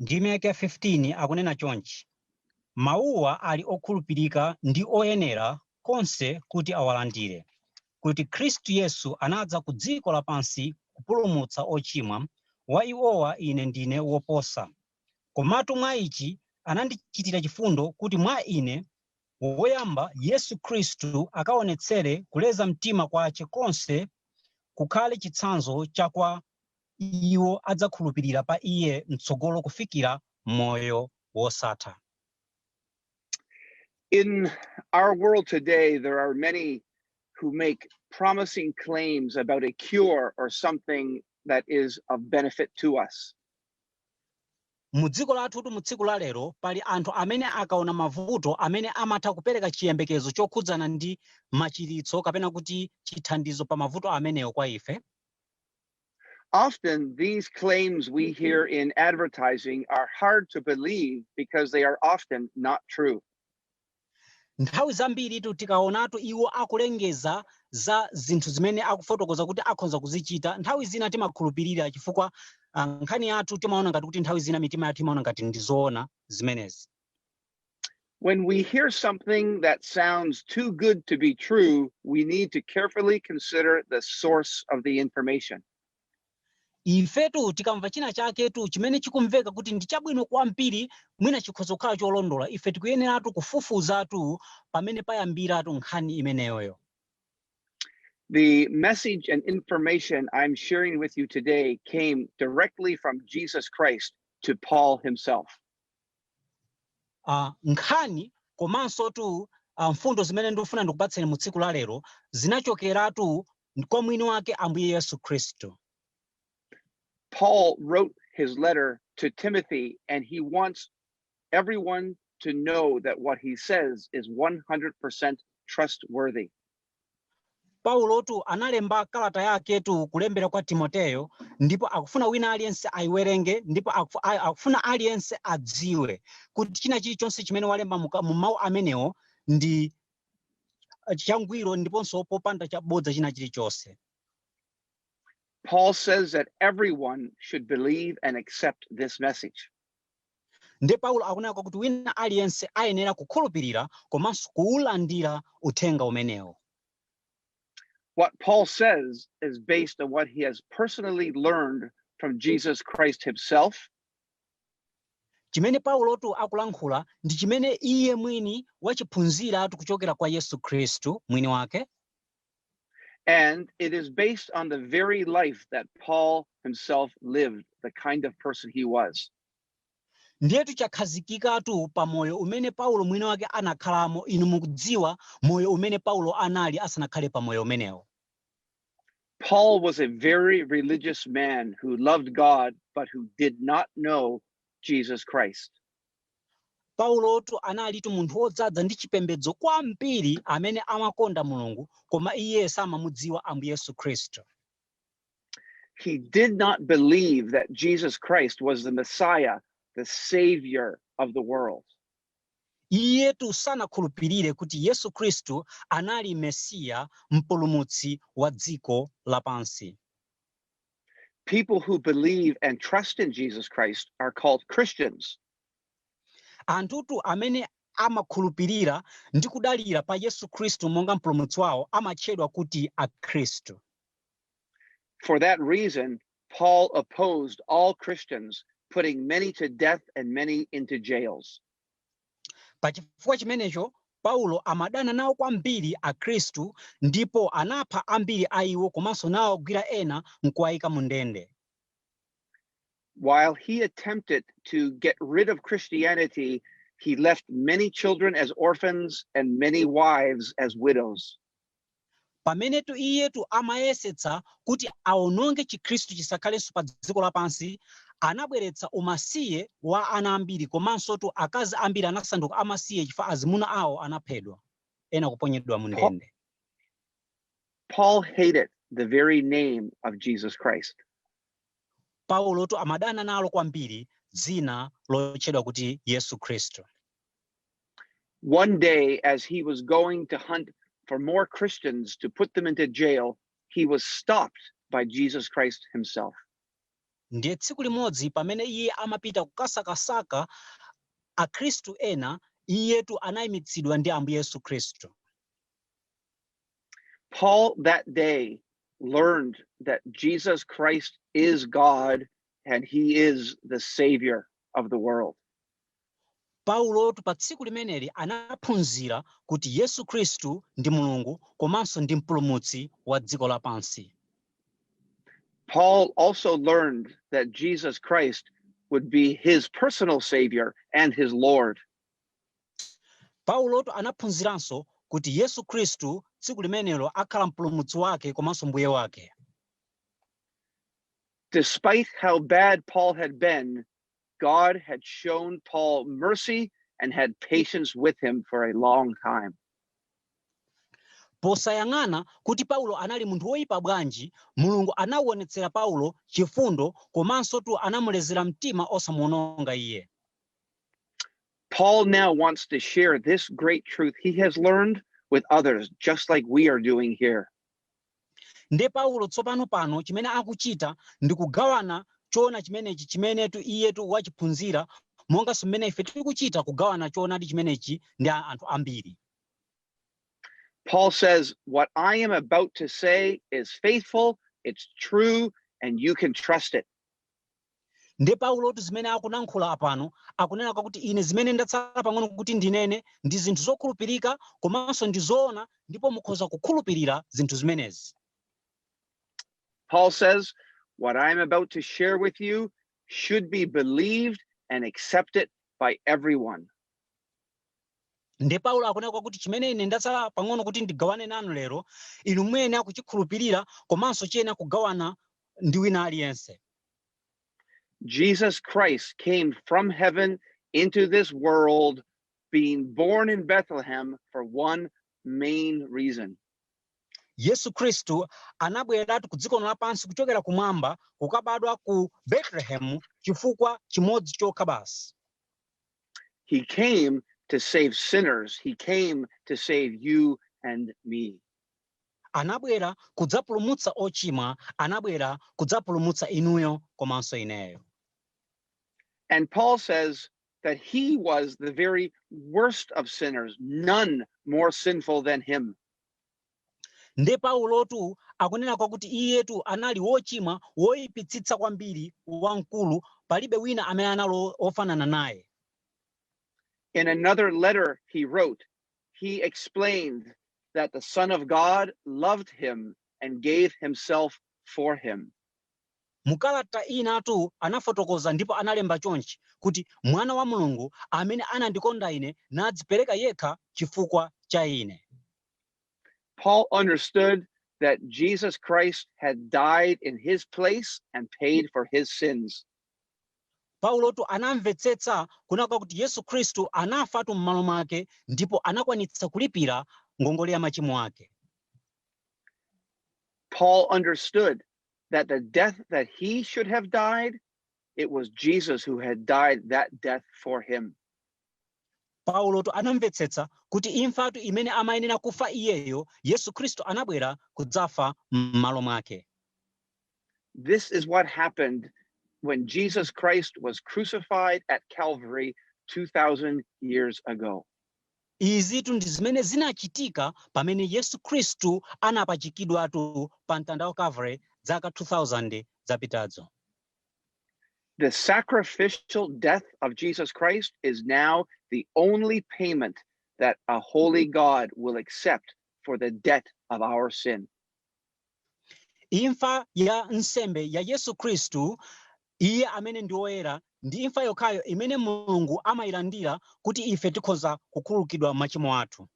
Ndime yake ya 15 akunena chonchi, Mawuwa ali okhulupirika ndi oyenera konse kuti awalandire, kuti Khristu Yesu anadza ku dziko lapansi kupulumutsa ochimwa, wa iwowa ine ndine woposa. Komatu mwa ichi anandichitira chifundo, kuti mwa ine, woyamba, Yesu Khristu akaonetsere kuleza mtima kwace konse, kukhale chitsanzo cha kwa iwo adzakhulupirira pa Iye mtsogolo kufikira moyo wosatha. In our world today, there are many who make promising claims about a cure or something that is of benefit to us. mu dziko lathutu mu tsiku la lero pali anthu amene akaona mavuto amene amatha kupereka chiyembekezo chokhudzana ndi machiritso kapena kuti chithandizo pa mavuto amenewo kwa ife Often, these claims we hear in advertising are hard to believe because they are often not true. nthawi zambiritu tikaonatu iwo akulengeza za zinthu zimene akufotokoza kuti akhonza kuzichita nthawi zina timakhulupirira chifukwa ah, nkhani yathu timaona ngati kuti nthawi zina mitima yathu imaona ngati ndizoona zimenezi When we hear something that sounds too good to be true, we need to carefully consider the source of the information. ifetu tikamva china chaketu chimene chikumveka kuti ndi chabwino kwambiri mwina chikhoza kukhala cholondola ife tikuyeneratu kufufuzatu pamene payambiratu nkhani imeneyoyo The message and information I'm sharing with you today came directly from Jesus Christ to Paul himself. Uh, nkhani komansotu uh, mfundo zimene ndikufuna ndikupatseni mu tsiku la lero zinachokeratu kwa mwini wake Ambuye Yesu Khristu. Paul wrote his letter to Timothy and he wants everyone to know that what he says is 100% trustworthy. Paulotu analemba kalata yaketu kulembera kwa Timoteyo ndipo akufuna wina aliyense ayiwerenge ndipo akufuna aliyense adziwe kuti china chilichonse chimene walemba mu mawu amenewo ndi changwiro ndiponso popanda chabodza china chilichonse. Paul says that everyone should believe and accept this message. Ndiye Paulo akunena kwakuti wina aliyense ayenera kukhulupirira komanso kuulandira uthenga umenewo. What Paul says is based on what he has personally learned from Jesus Christ himself chimene paulotu akulankhula ndi chimene iye mwini wachiphunziratu kuchokera kwa yesu khristu mwini wake And it is based on the very life that Paul himself lived, the kind of person he was. ndiyetu chakhazikikatu pa moyo umene paulo mwini wake anakhalamo inu mukudziwa moyo umene paulo anali asanakhale pa moyo umenewo Paul was a very religious man who loved God, but who did not know Jesus Christ. Paulotu analitu munthu wodzaza ndi chipembedzo kwambiri amene amakonda Mulungu koma iye samamudziwa Ambuye Yesu Khristu. He did not believe that Jesus Christ was the Messiah, the Savior of the world. Iyetu sanakhulupirire kuti Yesu Khristu anali Mesiya, mpulumutsi wa dziko lapansi. People who believe and trust in Jesus Christ are called Christians. anthutu amene amakhulupirira ndi kudalira pa yesu khristu monga mpulumutsi wawo amatchedwa kuti akhristu For that reason, Paul opposed all Christians, putting many to death and many into jails. Pa chifukwa chimenecho, Paulo amadana nawo kwambiri Akhristu ndipo anapha ambiri a iwo komanso nawagwira ena n'kuwaika mu ndende. While he attempted to get rid of Christianity, he left many children as orphans and many wives as widows. Pamenetu iyetu amayesetsa kuti awononge Chikhristu chisakhalenso padziko lapansi, anabweretsa umasiye wa ana ambiri komansotu akazi ambiri anasanduka amasiye chifukwa azimuna awo anaphedwa, ena kuponyedwa mu Paul, ndende. Paul hated the very name of Jesus Christ. Paulotu amadana nalo kwambiri dzina lotchedwa kuti Yesu Khristu. One day, as he was going to hunt for more Christians to put them into jail, he was stopped by Jesus Christ himself. ndiye tsiku limodzi pamene iye amapita kukasakasaka akhristu ena iyetu anayimitsidwa ndi ambuye yesu khristu Paul that day learned that Jesus Christ is God and he is the savior of the world. Paulotu pa tsiku limeneli anaphunzira kuti Yesu Khristu ndi Mulungu komanso ndi Mpulumutsi wa dziko lapansi. Paul also learned that Jesus Christ would be his personal savior and his Lord. Paulotu anaphunziranso kuti Yesu Khristu tsiku limenelo akhala mpulumutsi wake komanso mbuye wake. Despite how bad Paul had been, God had shown Paul mercy and had patience with him for a long time. posayang'ana kuti paulo anali munthu woyipa bwanji mulungu anawonetsera paulo chifundo komansotu anamulezera mtima osamuononga iye Paul now wants to share this great truth he has learned with others, just like we are doing here. Nde Paulo tsopano pano, chimene akuchita, ndi kugawana choona chimenechi chimenetu iyetu wachiphunzira, monganso mmene ife tikuchita, kugawana choonadi chimenechi ndi anthu ambiri. Paul says, What I am about to say is faithful, it's true, and you can trust it. nde paulotu zimene akunankhula apano akunena kwakuti ine zimene ndatsala pang'ono kuti ndinene ndi zinthu zokhulupirika komanso ndi zoona ndipo mukhoza kukhulupirira zinthu zimenezi Paul says, What I am about to share with you should be believed and accepted by everyone. nde paulo akunena kwakuti chimene ine ndatsala pang'ono kuti ndigawane nanu lero inu muyenera kuchikhulupirira komanso chiyenera kugawana ndi wina aliyense Jesus Christ came from heaven into this world, being born in Bethlehem for one main reason. yesu khristu anabweratu ku dziko lino lapansi kuchokera kumwamba kukabadwa ku betelehemu chifukwa chimodzi chokha basi He came to save sinners, He came to save you and me. anabwera kudzapulumutsa ochimwa, anabwera kudzapulumutsa inuyo komanso ineyo. And Paul says that he was the very worst of sinners, none more sinful than him. nde paulotu akunena kwakuti iyetu anali wochimwa woyipitsitsa kwambiri wamkulu palibe wina amene anali ofanana naye in another letter he wrote he explained that the Son of God loved him and gave himself for him. mu kalata inatu anafotokoza ndipo analemba chonchi kuti mwana wa mulungu amene anandikonda ine nadzipereka yekha chifukwa cha ine Paul understood that Jesus Christ had died in his place and paid for his sins. Paulotu anamvetsetsa kunena kwakuti Yesu Khristu anafatu m'malo mwake ndipo anakwanitsa kulipira ngongole ya machimo ake. Paul understood that the death that he should have died, it was Jesus who had died that death for him. Paulotu anamvetsetsa kuti imfatu imene amayenera kufa iyeyo, Yesu Khristu anabwera kudzafa m'malo mwake. This is what happened when Jesus Christ was crucified at Calvary 2,000 years ago. izitu ndi zimene zinachitika pamene yesu khristu anapachikidwatu pa mtanda wa calvary zaka 2000 zapitazo The sacrificial death of Jesus Christ is now the only payment that a holy God will accept for the debt of our sin. Imfa ya nsembe ya Yesu Khristu, Iye amene ndi woyera, ndi imfa yokhayo imene Mulungu amayilandira kuti ife tikhoza kukhululukidwa machimo athu.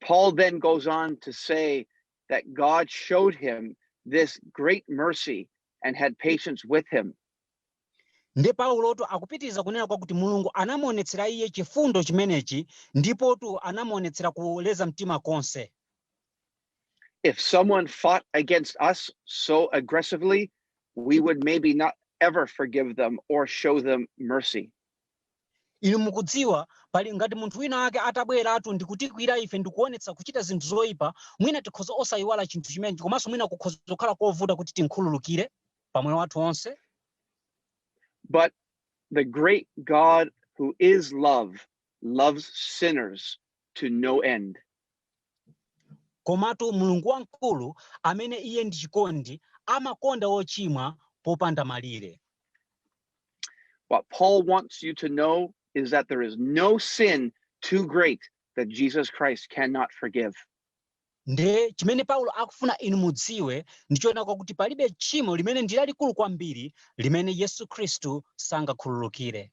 Paul then goes on to say that God showed him this great mercy and had patience with him. Nde Paulotu akupitiriza kunena kwakuti Mulungu anamuonetsera iye chifundo chimenechi ndipotu anamuonetsera kuleza mtima konse. If someone fought against us so aggressively, we would maybe not ever forgive them or show them mercy. inu mukudziwa pali ngati munthu wina wake atabweratu ndi kutikwira ife ndi kuonetsa kuchita zinthu zoyipa mwina tikhoza osayiwala chinthu chimenechi komanso mwina kukhoza kukhala kovuta kuti timkhululukire pa moyo wathu onse But the great God who is love loves sinners to no end. Komatu Mulungu wamkulu, amene Iye ndi chikondi, amakonda wochimwa popanda malire. What Paul wants you to know is that there is no sin too great that Jesus Christ cannot forgive. Nde chimene Paulo akufuna inu mudziwe ndi choona kwakuti palibe tchimo limene ndi lalikulu kwambiri limene Yesu Khristu sangakhululukire.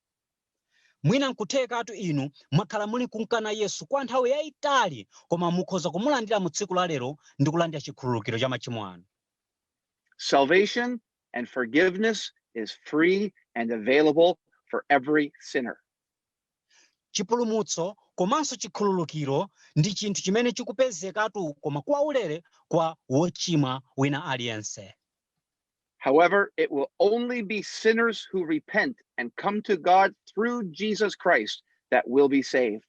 Mwina nkuthekatu inu mwakhala muli nkumkana Yesu kwa nthawi yaitali koma mukhoza kumulandira mu tsiku la lero ndi kulandira chikhululukiro cha machimo anu. Salvation and forgiveness is free and available for every sinner. Chipulumutso komanso chikhululukiro ndi chinthu chimene chikupezekatu koma kwaulere kwa wochimwa wina aliyense. However, it will only be sinners who repent and come to God through Jesus Christ that will be saved.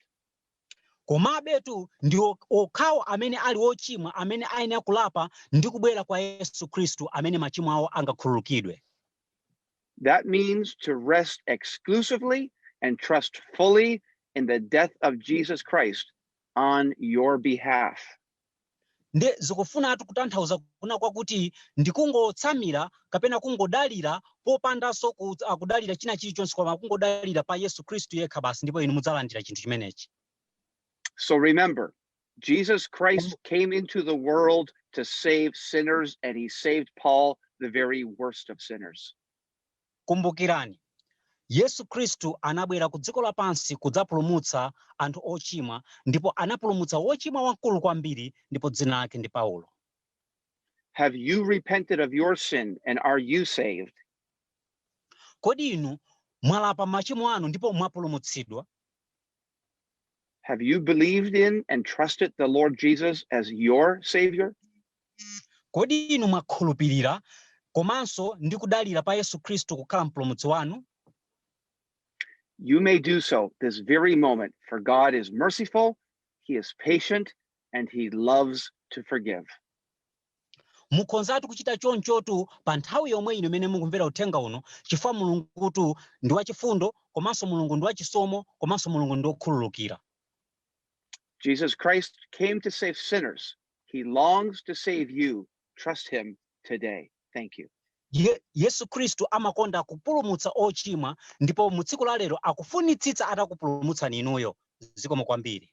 komabetu ndi okhawo amene ali ochimwa amene ayenera kulapa ndi kubwera kwa yesu khristu amene machimo awo angakhululukidwe That means to rest exclusively and trust fully in the death of Jesus Christ on your behalf. Nde zikufunatu kutanthauza kunena kwakuti ndikungotsamira kapena kungodalira popandanso kudalira china chilichonse koma kungodalira pa Yesu Khristu yekha basi ndipo inu mudzalandira chinthu chimenechi. So remember, Jesus Christ came into the world to save sinners, and he saved Paul, the very worst of sinners. Kumbukirani, Yesu Khristu anabwera ku dziko lapansi kudzapulumutsa anthu ochimwa ndipo anapulumutsa wochimwa wamkulu kwambiri ndipo dzina lake ndi Paulo. Have you repented of your sin and are you saved? Kodi inu mwalapa machimo anu ndipo mwapulumutsidwa? Have you believed in and trusted the Lord Jesus as your Savior? kodi inu mwakhulupirira komanso ndi kudalira pa yesu khristu kukhala mpulumutsi wanu You may do so this very moment, for God is merciful, He is patient, and He loves to forgive. mukhonzatu kuchita chonchotu pa nthawi yomwe ino imene mukumvera uthenga uno chifukwa mulungutu ndi wachifundo komanso mulungu ndi wachisomo komanso mulungu ndi wokhululukira Jesus Christ came to save sinners. He longs to save you. Trust him today. Thank you. yesu khristu amakonda kupulumutsa ochimwa ndipo mu tsiku la lero akufunitsitsa atakupulumutsani inuyo zikomo kwambiri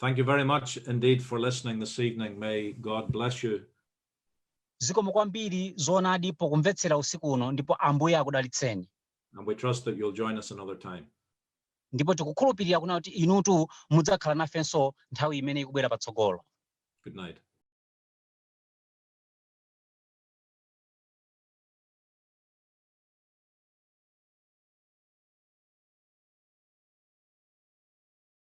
Thank you very much indeed for listening this evening. May God bless you. zikomo kwambiri zoonadi pokumvetsera usiku uno ndipo ambuye akudalitseni And we trust that you'll join us another time. ndipo tikukhulupirira kunena kuti inutu mudzakhala nafenso nthawi imene ikubwera patsogolo Good night.